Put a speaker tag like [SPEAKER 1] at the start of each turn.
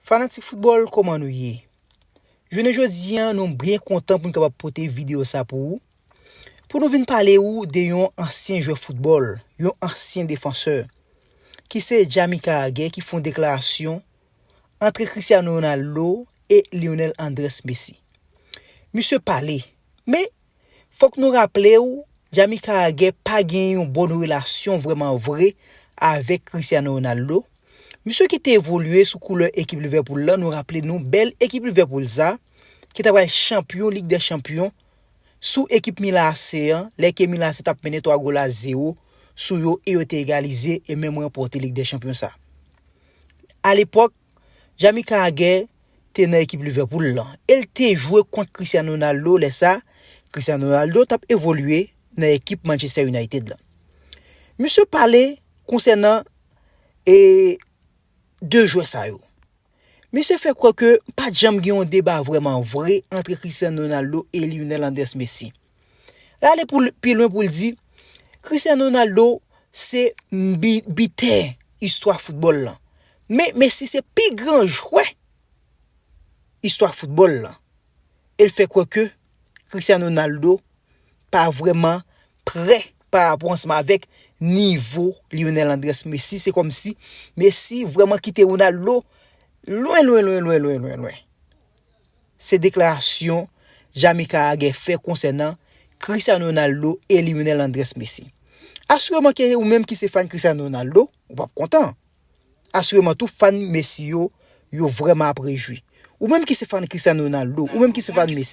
[SPEAKER 1] Fanatik football koman nou ye? Jounen jodi an nou byen kontan pou nou kapab pote video sa pou ou, pou nou vin pale ou de yon ansyen jwè football, yon ansyen defansè, ki se Jamie Carragher ki fon deklarasyon antre Cristiano Ronaldo e Lionel Andres Messi. Misye pale, men Fok nou raple w Jamika Agè pa gen yon bon relasyon vrèman vre avèk Cristiano Ronaldo, misye ki te evolye sou koulè ekip Liverpool lan nou raple nou bèl ekip Liverpool sa ki ta pral chanpyon Lig dè Chanpyon sou ekip Milan AC an lè ke Milan AC tap mennen 3 gol a 0 sou yo e yo te egalize e menm ranpòte Lig dè Chanpyon sa. Alepòk. Jamie Carragher te nan ekip Liverpool lan e l te jwe kont Cristiano Ronaldo lè sa Cristiano Ronaldo t ap evolye nan ekip Manchester United lan. Misye pale konsènan e 2 jwè sa yo. Misye fè kwè ke pat janm gen yon deba vrèman vre antre Cristiano Ronaldo e Lionel Andres Messi. L ale pou l pi lwen pou l di, Cristiano Ronaldo se bitè istwa foutbòl lan. Men Messi se pi gran jwè istwa foutbòl lan. E l fè kwè ke Cristiano Ronaldo pa vrèman prè pa rapò ansanm avèk nivo Lionel Andrés Messi. Se kòm si Messi vrèman kite Ronaldo lwen lwen lwen lwen lwen lwen lwen. se deklarasyon Jamaika a gen fè konsènan Cristiano Ronaldo e Lionel Andres Messi. Asireman ke ou menm ki se fan Cristiano Ronaldo, ou pap kontan. Asireman tou fan Messi yo, yo vrèman ap rejwi. Ou menm ki se fan Cristiano Ronaldo, ou menm ki se fan Messi.